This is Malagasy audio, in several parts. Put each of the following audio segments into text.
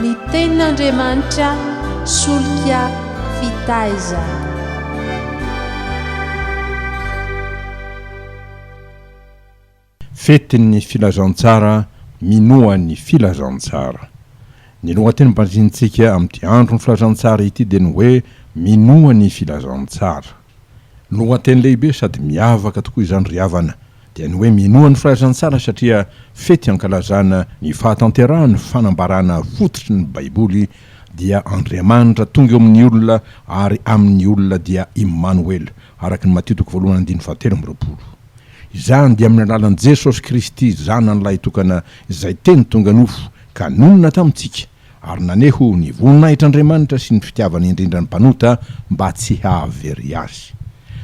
Ny Tenin'Andriamanitra solika fitaizana. Fetin'ny Filazantsara minoa ny Filazantsara. Ny lohateny nobanjinintsika amin'ity andron'ny Filazantsara ity dia ny hoe Minoa ny Filazantsara. Lohateny lehibe sady miavaka tokoa izany ry havana dia ny hoe minoa ny filazantsara satria fety ankalazana ny fahatanterahan'ny fanambarana fototry ny baiboly dia Andriamanitra tonga eo amin'ny olona ary amin'ny olona dia Imanoel araka ny Matio toko voalohany andininy fahatelo amby roapolo izany dia amin'ny alalan'i Jesosy Kristy zanany lahitokana izay teny tonga nofo ka nonina tamintsika Ary naneho ny voninahitr' Andriamanitra sy ny fitiavany indrindra ny mpanota mba tsy hahavery azy.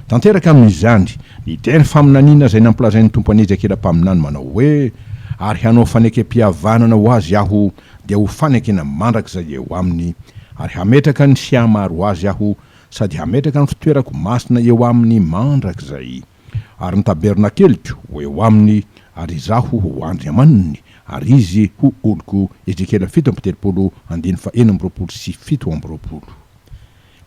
Tanteraka amin' izany ny teny faminaniana izay nampilazain' ny Tompo an' Ezekiela mpaminany manao hoe, Ary hanao fanekempihavanana ho azy Aho, dia ho fanekena mandrakizay eo aminy, ary hametraka ny sihamaro ho azy Aho, sady hametraka ny fitoerako masina eo aminy mandrakizay. Ary ny tabernakeliko ho eo aminy, ary Izaho ho Andriamaniny, ary izy ho oloko. Ezekiela fito amby telopolo, andininy faheno amby roapolo sy fito amby roapolo.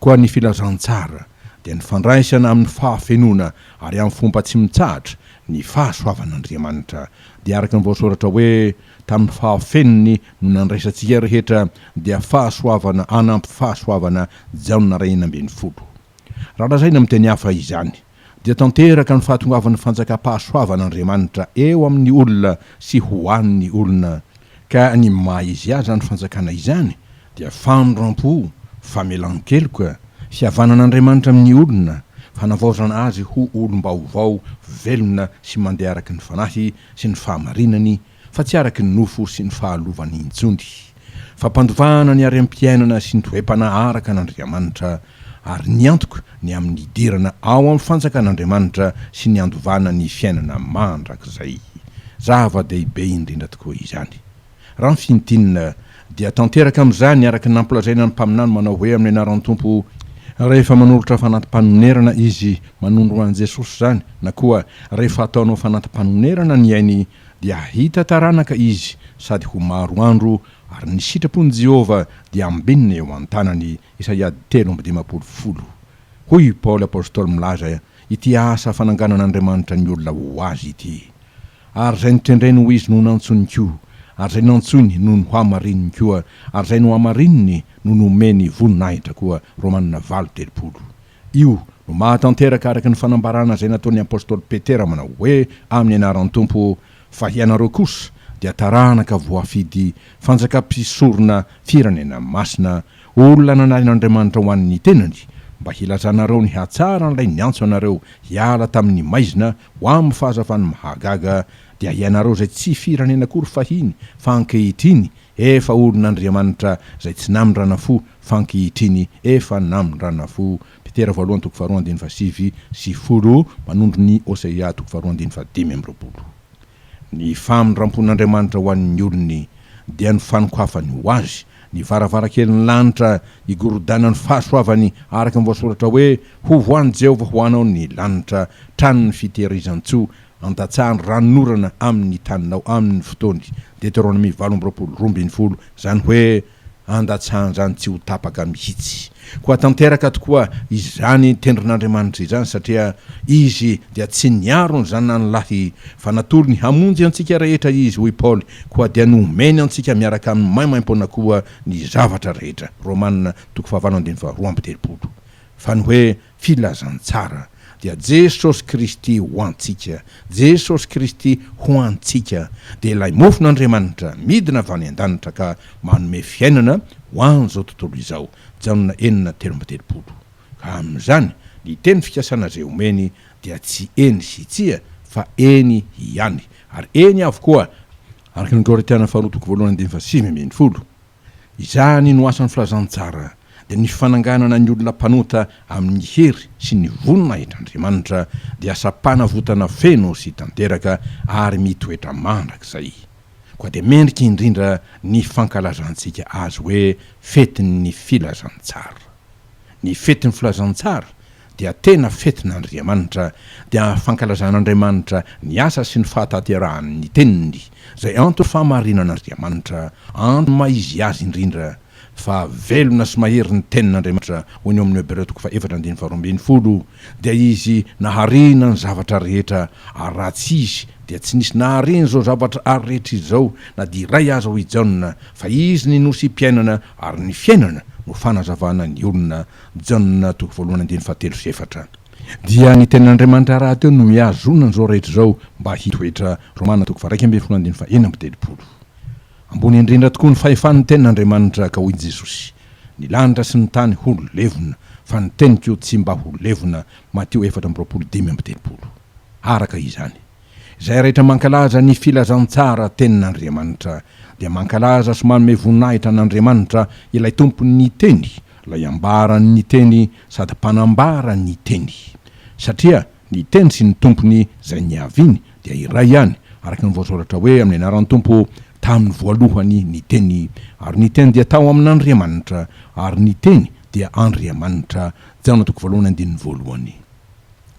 Koa ny filazantsara dia ny fandraisana amin'ny fahafenoana ary amin'ny fomba tsy mitsahatra ny fahasoavan'Andriamanitra, dia araka ny voasoratra hoe, Tamin'ny fahafenony no nandraisantsika rehetra, dia fahasoavana hanampy fahasoavana, Jaona iray enina ambin'ny folo. Raha lazaina amin'ny teny hafa izany, dia tanteraka ny fahatongavan'ny fanjakam-pahasoavan'Andriamanitra eo amin'ny olona sy ho an'ny olona, ka ny maha izy azy izany fanjakana izany dia famindram-po, famelan-keloka, fihavanan'Andriamanitra amin'ny olona, fanavaozana azy ho olom-baovao velona sy mandeha araka ny Fanahy sy ny fahamarinany fa tsy araky ny nofo sy ny fahalovan'ny injony, fa mpandovana ny harem-piainana sy ny toe-panahy araka an'Andriamanitra, ary ny antoko ny amin'ny hidirana ao amin'ny fanjakan'Andriamanitra sy ny handovana ny fiainana mandrakizay. Zava-dehibe indrindra tokoa izany! Raha ny fintinina, dia tanteraka amin'izany araka ny nampolazaina ny mpaminany manao hoe amin'ny anaran'ny Tompo, rehefa manolotra fanati-panonerana izy manondro an'i Jesosy izany, na koa rehefa ataonao fanati-panonerana ny ainy, dia hahita taranaka izy sady ho maro andro, ary ny sitrapon'i Jehovah dia hambinina eo an-tanany. Isaia telo amby dimampolo folo Hoy i Paoly apostoly milaza ity asa fananganan'Andriamanitra ny olona ho azy ity, Ary izay notendreny ho izy no nantsony koa, ary izay nantsoiny no nohamarininy koa, ary izay nohamarininy no nomeny voninahitra koa. Romana valo, telopolo. Io no mahatanteraka araka ny fanambarana izay nataon'ny apostoly Petera manao hoe amin'ny anaran'ny Tompo, fa hianareo kosa dia taranaka voafidy, fanjaka mpisorona, firenena masina, olona nanaren'Andriamanitra ho an'ny tenany, mba hilazanareo ny hatsaran'ilay niantso anareo hiala tamin'ny maizina ho amin'ny fahazavan'ny mahagaga, dia hianareo izay tsy firenena akory fahiny fa ankehitriny Efa olon'Andriamanitra izay tsy namindrana fo f'ankehitriny efa namindrana fo Petera voalohany toko faharoa andininy fahasivy sy folo manondro ny Hosea toko faharoa andininy fahadimy amby roapolo. Ny famindram-pon'Andriamanitra ho an'ny olony dia ny fanokafany ho azy ny varavarankelin'ny lanitra higorodanan'ny fahasoavany araka ny voasoratra hoe, Hovohàn'i Jehovah ho anao ny lanitra, tranon'ny fitehirizan-tsoa, Andatsaha ny ranon'orana amin' ny taninao amin' ny fotoany, Deteronomia valo amby roapolo, roa ambin'ny folo, izany hoe, andatsahan-drano tsy ho tapaka mihitsy. Koa tanteraka tokoa izany tendron' Andriamanitra izany, satria Izy dia tsy niaro ny Zanany lahy, fa natorony hamonjy antsika rehetra Izy, hoy Paoly, koa dia nomeny antsika miaraka amin' ny maimaim-poana koa ny zavatra rehetra, Romana, toko fahavalo andininy faharoa amby telopolo, fa ny hoe, Filazantsara dia Jesosy Kristy ho antsika, Jesosy Kristy ho antsika dia ilay mofon'Andriamanitra midina avy any an-danitra ka manome fiainana ho an'izao tontolo izao, Jaona enina telo amby telopolo. Ka amin'izany, ny teny fikasana izay omeny dia tsy eny sy tsia fa eny ihany, ary eny avokoa, araka ny Korintiana faharoa toko voalohany andininy fahasivy ambin'ny folo. Izany no asan'ny filazantsara, dia ny fananganana ny olona mpanota amin'ny hery sy ny voninahitr'Andriamanitra, dia asam-panavotana feno sy tanteraka ary mitoetra mandrakizay. Koa dia mendrika indrindra ny fankalazantsika azy hoe fetin'ny filazantsara. Ny fetin'ny filazantsara dia tena fetin'Andriamanitra, dia fankalazan'Andriamanitra ny asa sy ny fahatanterahan' ny teniny, izay antony fahamarinan'Andriamanitra, antony maha izy azy indrindra, fa velona sy mahery ny tenin'Andriamanitra, hoy ny ao amin'ny Hebreo toko faha-efatra andininy faharoa ambin'ny folo, Dia izy naharena ny zavatra rehetra, ary raha tsy izy dia tsy nisy nahareny izao zavatra ary rehetra izao na dia iray aza hoy Jaona, fa izy ny nosy mpiainana ary ny fiainana no fanazavana ny olona, Jaona toko voalohany andininy fahatelo sy efatra. Dia ny tenin'Andriamanitra rahateo no mihazona an'izao rehetra izao mba hitoetra, Romana toko faha-iraika ambin'ny folo andininy faha-enina amby telopolo. Ambony indrindra tokoa ny fahefan'ny tenin'Andriamanitra ka hoy Jesosy, Ny lanitra sy ny tany ho levona, fa ny teniko tsy mba ho levona, Matio efatra amby roapolo dimy amby telopolo. Araka izany, izay rehetra mankalaza ny filazantsara tenin'Andriamanitra, dia mankalaza sy manome voninahitra an'Andriamanitra, ilay Tompon'ny Teny, ilay ambaran'ny Teny sady mpanambara ny Teny. Satria Ny Teny sy ny Tompony izay niaviany dia iray ihany, araka ny voasoratra hoe amin'ny anaran'ny Tompo tamin'ny voalohany ny Teny, ary ny Teny dia tao amin'Andriamanitra, ary ny Teny dia Andriamanitra. Jaona toko voalohany andininy voalohany.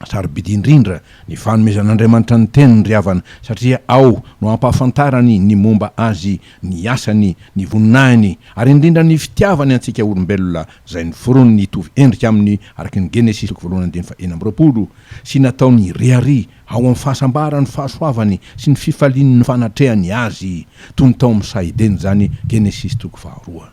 Sarobidy indrindra ny fanomezan'Andriamanitra ny Teniny ry havana, satria ao no ampahafantarany ny momba Azy, ny asany, ny voninahiny, ary indrindra ny fitiavany antsika olombelona izay noforoniny hitovy endrika aminy araka ny Genesisy toko voalohany andininy faha enina amby roapolo, sy nataony hirehareha ao amin'ny fahasambarany ny fahasoavany sy ny fifaliany ny fanatrehany azy, toy ny tao amin'ny saha Edena izany, Genesisy toko faha roa.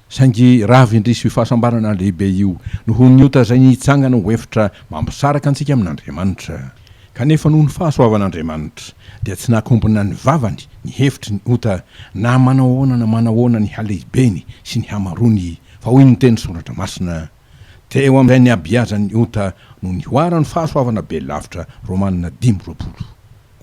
Saingy rava indrisy io fahasambarana lehibe io, noho ny ota izay nitsangana ho efitra mampisaraka antsika amin'Andriamanitra. Kanefa noho ny fahasoavan'Andriamanitra, dia tsy nakombona ny vavany, ny hevitry ny ota, na manao ahoana na manao ahoana ny halehibeny sy ny hamaroany, fa hoy ny teny Soratra Masina, Teo amin'izay niabiazan'ny ota no nihoaran'ny fahasoavana be lavitra, Romana dimy, roapolo.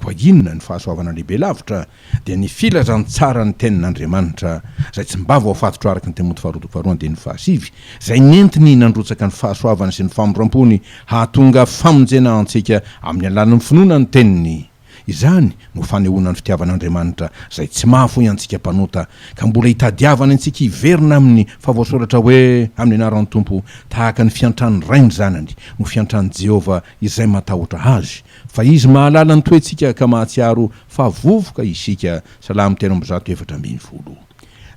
Koa inona ny fahasoavana lehibe lavitra? Dia ny filazantsaran'ny Tenin'Andriamanitra izay tsy mba voafatotra araka ny Timoty faharoa toko faharoa andininy fahasivy, izay nentiny nandrotsaka ny fahasoavany sy ny famindram-pony hahatonga famonjena ho antsika amin'ny alalan'ny finoana ny Teniny. Izany no fanehoana ny fitiavan'Andriamanitra izay tsy mahafoy antsika mpanota ka mbola itadiavany antsika hiverina aminy fa voasoratra hoe amin'ny anaran'ny Tompo tahaka ny fiantran'ny ray ny zanany no fiantran'i Jehovah izay matahotra azy Fa Izy mahalala ny toetsika ka mahatsiaro fa vovoka isika, Salamo telo amby zato efatra ambin'ny folo.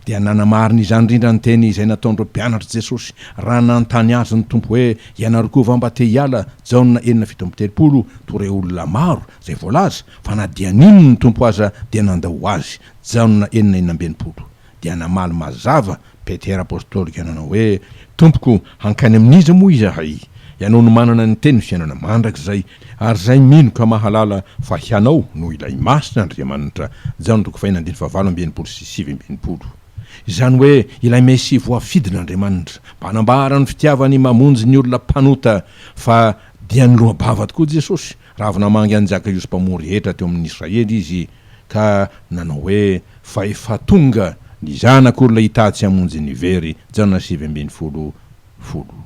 Dia nanamarina izany indrindra ny teny izay nataon'ireo mpianatr'i Jesosy raha nanontany Azy ny Tompo hoe, Ianareo koa va mba te hiala, Jaona enina fito amby telopolo, toa ireo olona maro izay voalaza fa na dia nino ny Tompo aza dia nandao Azy, Jaona enina enina amby enimpolo. dia namaly mazava Petera Apostolika nanao hoe, Tompoko, hankany amin'iza moa izahay? Ianao no manana ny Tenin'ny Fiainana Mandrakizay, ary izay mino ka mahalala fa Hianao no ilay Masin' Andriamanitra. Jaona toko fahiny andininy fahavalo amby enimpolo sy sivy amby enimpolo. Izany hoe ilay Mesia voafidin' Andriamanitra, mba hanambara ny fitiavany mamonjy ny olona mpanota, fa dia niloa-bava tokoa Jesosy, Raha avy namangy an'i Jakaiosy mpamory hetra teo amin'ny Israely izy ka nanao hoe, Fa efa tonga ny Zanak'olona hitady sy hamonjy ny very, Jaona sivy ambin'ny folo, folo.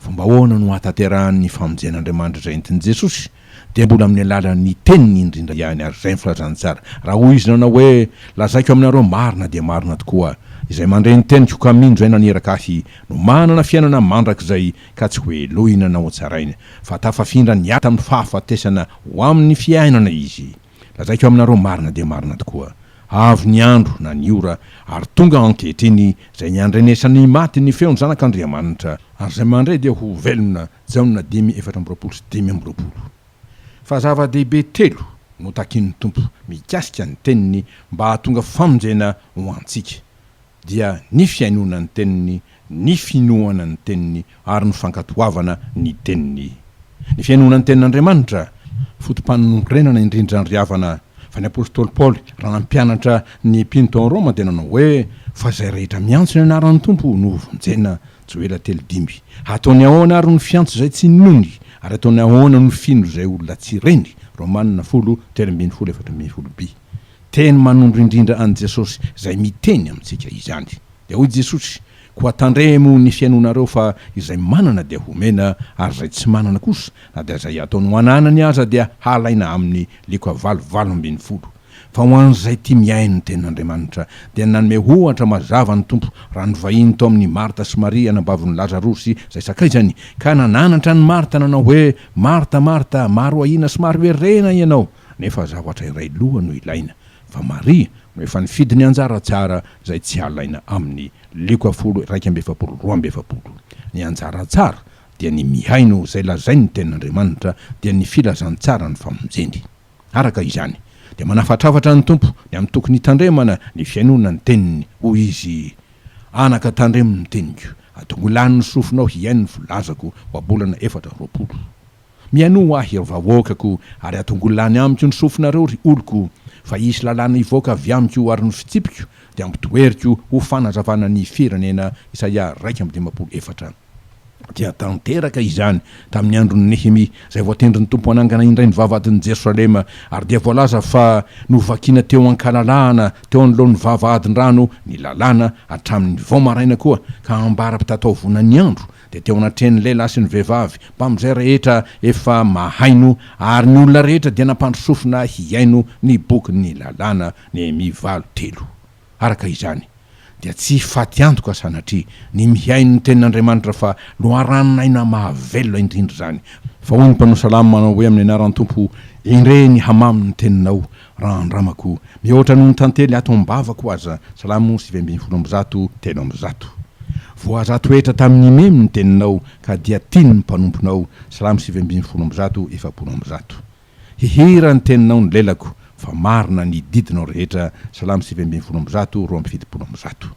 Fomba ahoana no hahatanterahany ny famonjen'Andriamanitra izay entin'i Jesosy? Dia mbola amin'ny alalan'ny Teniny indrindra ihany, ary izay ny filazany tsara. Raha hoy Izy nanao hoe, Lazaiko aminareo marina dia marina tokoa, Izay mandre ny teniko ka minjy ahy naniraka ahy no manana fiainana mandrakizay, ka tsy hohelohina na hotsaraina, fa tafafindra ny aty amin'ny fahafatesana ho amin'ny fiainana izy. Lazaiko aminareo marina dia marina tokoa, avy ny andro na ny ora, ary tonga ankehitriny, izay niandrenesan'ny maty ny feon'ny Zanak'Andriamanitra, ary izay mandre dia ho velona, Jaona dimy efatra amby roapolo sy dimy amby roapolo. Fa zava-dehibe telo no takin'ny Tompo mikasika ny Teniny mba hahatonga famonjena ho antsika. dia ny fihainoana ny teniny, ny finoana ny teniny ary ny fankatoavana ny teniny. Ny fihainoana ny tenin'Andriamanitra, foto-panorenana indrindra ry havana, fa ny apostoly Paoly raha nampianatra ny mpino tao Roma dia nanao hoe, Fa izay rehetra miantso ny anaran'ny Tompo no hovonjena, Joela telo dimy. Hataony ahoana ary ny fiantso izay tsy ninoany, ary ataony ahoana no fino izay olona tsy reny, Romana folo, telo ambin'ny folo, efatra ambin'ny folo, bi. Teny manondro indrindra an'i Jesosy izay miteny amintsika izany. Dia hoy Jesosy, Koa tandremo ny fihainoanareo fa izay manana dia homena, ary izay tsy manana kosa, na dia izay ataony ho ananany aza dia halaina aminy liko avaly valo ambin'ny folo. Fa ho an'izay tia mihaino ny tenin'Andriamanitra, dia nanome ohatra mazava ny Tompo raha nivahiny tao amin'i Marta sy Maria anabavon'i Lazarosy izay sakaizany, ka nananatra an'i Marta nanao hoe, Marta, Marta, maro ahiana sy maro herena ianao, nefa zavatra iray loha no ilaina fa Maria no efa nifidy ny anjara tsara izay tsy alaina amin'ny Lioka folo iraika amby efapolo roa amby efapolo. Ny anjara tsara dia ny mihaino izay lazain'ny Tenin'Andriamanitra dia ny filazantsaran'ny famonjeny. Araka izany dia manafatrafatra ny Tompo ny amin'ny tokony hitandremana ny fihainoana ny teniny, hoy izy, Anaka tandremo ny teniko, atongo lany ny sofinao hihaino ny volazako ohabolana efatra roapolo. Mihainoa ho ahy, ry vahoakako, ary atongolo lany amiko ny sofinareo, ry oloko, fa hisy lalàna hivoaka avy amiko, ary ny fitsipiko dia ampidoheriko ho fanazavana ny firenena. Isaia iraika amby dimampolo efatra. Dia tanteraka izany tamin'ny andron'i Nehemia, izay voatendrin'ny Tompo hanangana indray ny vavahadin'i Jerosalema, ary dia voalaza fa novakina teo an-kalalahana teo anoloan'ny vavahadin-drano ny lalàna hatramin'ny vao maraina koa, ka ambara-pitataovona ny andro Dia teo anatrehan'ny lehilahy sy ny vehivavy, mpamin'izay rehetra efa mahaino, ary ny olona rehetra dia nampandry sofina hihaino ny bokin'ny lalàna, Nehemia valo, telo. Araka izany, dia tsy hifaty antoka sanatria ny mihaino ny Tenin'Andriamanitra fa loharanon'aina mahavelona indrindra izany, fa hoy ny mpanao salamo manao hoe amin'ny anaran'ny Tompo, Endrey ny hamamo ny teninao, Raha andramako, mihoatra noho ny tantely ato am-bavako aza, Salamo sivy ambin'ny folo amby zato, telo amby zato. Voazato hetra tamin'ny memy ny teninao, ka dia tiany ny mpanomponao, Salamo sivy ambin'ny folo amby zato, efapolo amby zato. Hihira ny teninao ny lelako, fa marina ny didinao rehetra, Salamo sivy ambin'ny folo amby zato, roa amby fitopolo amby zato.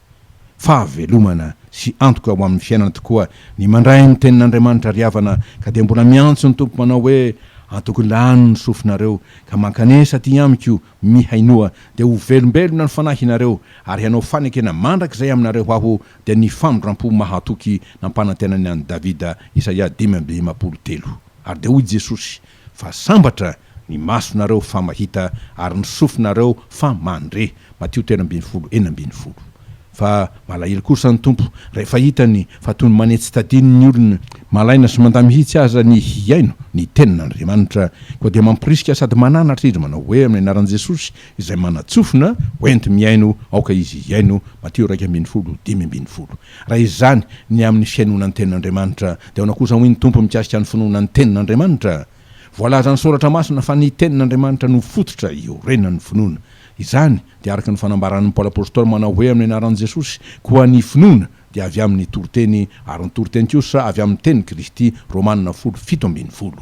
Fahavelomana sy antoka ho amin'ny fiainana tokoa ny mandray ny Tenin'Andriamanitra ry havana ka dia mbola miantso ny Tompo manao hoe, Antoko lany ny sofinareo ka mankanesa aty amiko, mihainoa, dia ho velombelona ny fanahinareo ary hanao fanekena mandrakizay aminareo aho, dia ny famindram-po mahatoky nampanantenany an'i Davida, Isaia dimy amby dimampolo telo. Ary dia hoy Jesosy, Fa sambatra ny masonareo fa mahita ary ny sofinareo fa mandre, Matio telo ambin'ny folo, enina ambin'ny folo. Fa malahelo kosa ny Tompo rehefa hitany fa toy ny manetsi-tadino ny olona, malaina sy mandà mihitsy aza ny hihaino ny tenin'Andriamanitra, koa dia mamporisika sady mananatra izy manao hoe amin'ny anaran'i Jesosy izay manatsofina, hoenti-mihaino, aoka izy hihaino, Matio iraika ambin'ny folo, dimy ambin'ny folo. Raha izany ny amin'ny fihainoana ny Tenin'Andriamanitra, dia ahoana kosa hoy ny Tompo mikasika ny finoana ny Tenin'Andriamanitra? Voalaza ny Soratra Masina fa ny Tenin'Andriamanitra no fototra iorenan'ny finoana. Izany dia araka ny fanambaran'i Paoly Apostoly manao hoe amin'ny anaran'i Jesosy, Koa ny finoana dia avy amin'ny toriteny, ary ny toriteny kosa avy amin'ny tenin'i Kristy, Romana folo fito ambin'ny folo.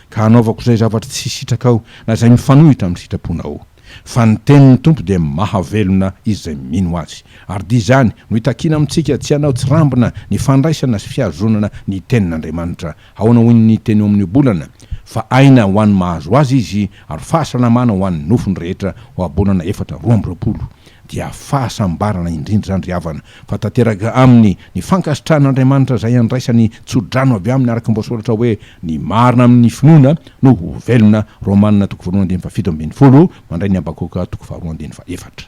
ka hanaovako izay zavatra tsy sitrakao na izay mifanohitra amin'ny sitraponao. Fa ny tenin'ny Tompo dia mahavelona izay mino azy. Ary dia izany no itakiana amintsika, tsy hanao tsirambina ny fandraisana sy fihazonana ny Tenin'Andriamanitra. Ahoana hoy ny teny eo amin'ny ohabolana, Fa aina ho an'ny mahazo azy izy, ary fahasalamana ho an'ny nofony rehetra, ohabolana efatra roa amby roapolo. dia fahasambarana indrindra izany ry havana fa tanteraka aminy ny fankasitrahan'Andriamanitra izay andraisany tsodrano avy aminy araka ny voasoratra hoe ny marina amin'ny finoana no ho velona Romana toko voalohany andininy fahafito ambin'ny folo mandray ny Habakoka toko faharoa andininy fahefatra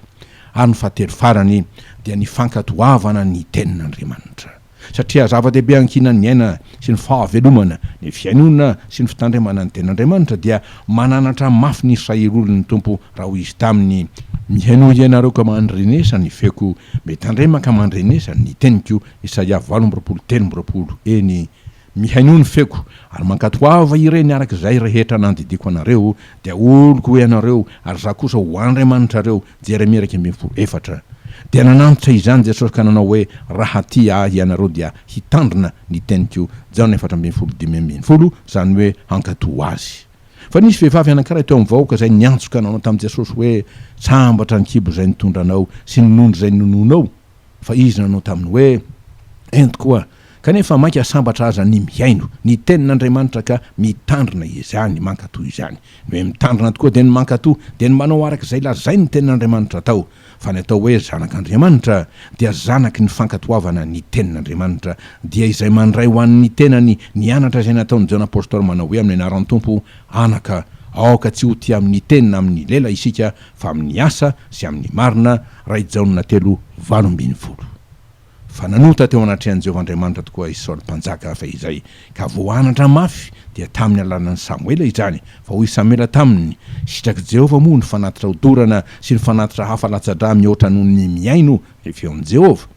ary ny fahatelo farany dia ny fankatoavana ny tenin'Andriamanitra. satria zava-dehibe ankinan'ny aina sy ny fahavelomana, ny fihainoana sy ny fitandremana ny Tenin'Andriamanitra, dia mananatra mafy ny Israeliolin'ny Tompo raha hoy Izy taminy, Mihainoa hianareo ka mandrenesa ny feoko, mitandrema ka mandrenesa ny teniko, Isaia valo amby roapolo telo amby roapolo, eny, mihainoa ny feoko, ary mankatoava ireny araka izay rehetra nandidiako anareo, dia oloko ho ianareo, ary Izaho kosa ho Andriamanitrareo, Jeremia iraika ambin'ny folo, efatra Dia nanantitra izany Jesosy ka nanao hoe, Raha tia Ahy ianareo dia hitandrina ny teniko, Jaona efatra ambin'ny folo, dimy ambin'ny folo, izany hoe hankatò Azy. Fa nisy vehivavy anankiray teo amin'ny vahoaka izay niantso ka nanao tamin'i Jesosy hoe, Sambatra ny kibo izay nitondranao sy ny nondro izay ninoanao. fa izy nanao taminy hoe, Ento koa, kanefa mainka sambatra aza ny mihaino ny tenin'Andriamanitra ka mitandrina izany, mankato izany. Ny hoe mitandrina tokoa dia ny mankato, dia ny manao araka izay lazain'ny tenin'Andriamanitra atao. Fa ny atao hoe zanak'Andriamanitra dia zanaky ny fankatoavana ny tenin'Andriamanitra, dia izay mandray ho an'ny tenany ny anatra izay nataon'i Jaona Apostoly manao hoe amin'ny anaran'ny Tompo, Anaka, aoka tsy ho tia amin'ny teny na amin'ny lela isika fa amin'ny asa sy amin'ny marina raha i Jaona telo valo ambin'ny folo. Fa nanota teo anatrehan'i Jehovah Andriamanitra tokoa i Saoly mpanjaka fehizay, ka voanatra mafy dia tamin'ny alalan'i Samoela izany, fa hoy Samoela taminy, Sitrak'i Jehovah moa ny fanatitra ho dorana sy ny fanatitra hafa latsa-dra mihoatra noho ny mihaino ny feon'i Jehovah?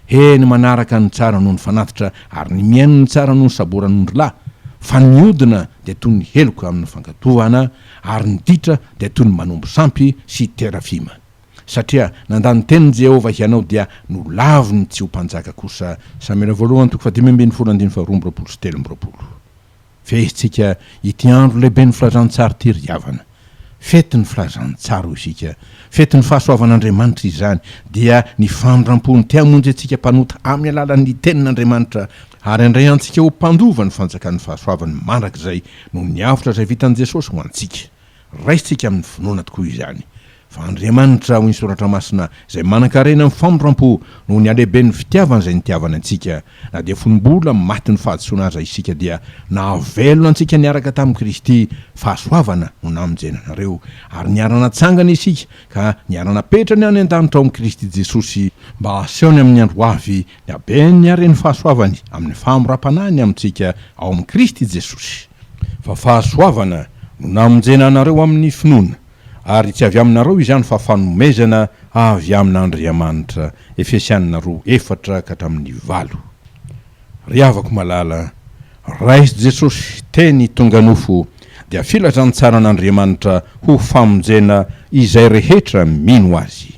He ny manaraka no tsara noho ny fanatitra ary ny mihaino no tsara noho ny saboran'ondrilahy, fa ny hodina dia toy ny heloka amin'ny fankatoavana ary ny ditra dia toy ny manombo sampy sy terafima. Satria nandà ny tenin'i Jehovah hianao dia nolaviny tsy ho mpanjaka kosa. Samela voalohany toko fahadimy ambin'ny folo andininy faharoa amby roapolo sy telo amby roapolo. Fehintsika ity andro lehiben'ny Filazantsara ity ry havana. Fetin'ny Filazantsara hoy isika. Fetin'ny fahasoavan'Andriamanitra izany, dia ny famindram-pony te hamonjy antsika mpanota amin'ny alalan'ny Tenin'Andriamanitra, ary handray antsika ho mpandova ny fanjakan'ny fahasoavany mandrakizay noho ny avotra izay vitan'i Jesosy ho antsika. Raisintsika amin'ny finoana tokoa izany, fa Andriamanitra, hoy ny Soratra Masina, izay manan-karena amin'ny famindram-po noho ny halehiben'ny fitiavany izay nitiavany antsika, na dia fony mbola matin'ny fahadisoana aza isika, dia nahavelona antsika niaraka tamin'i Kristy, fahasoavana no namonjenanareo, ary niara-natsangana isika ka niara-napetrany any an-danitra ao amin'i Kristy Jesosy, mba hasehony amin'ny andro ho avy Ny habeny ary ny fahasoavany amin'ny fahamoram-panahiny amintsika ao amin'i Kristy Jesosy. Fa fahasoavana no namonjena anareo amin'ny finoana, ary tsy avy aminareo izany fa fanomezana avy amin'Andriamanitra, Efesiana roa efatra ka hatramin'ny valo. Ry havako malala, raiso Jesosy teny tonga nofo, dia filazantsaran'Andriamanitra ho famonjena izay rehetra mino Azy.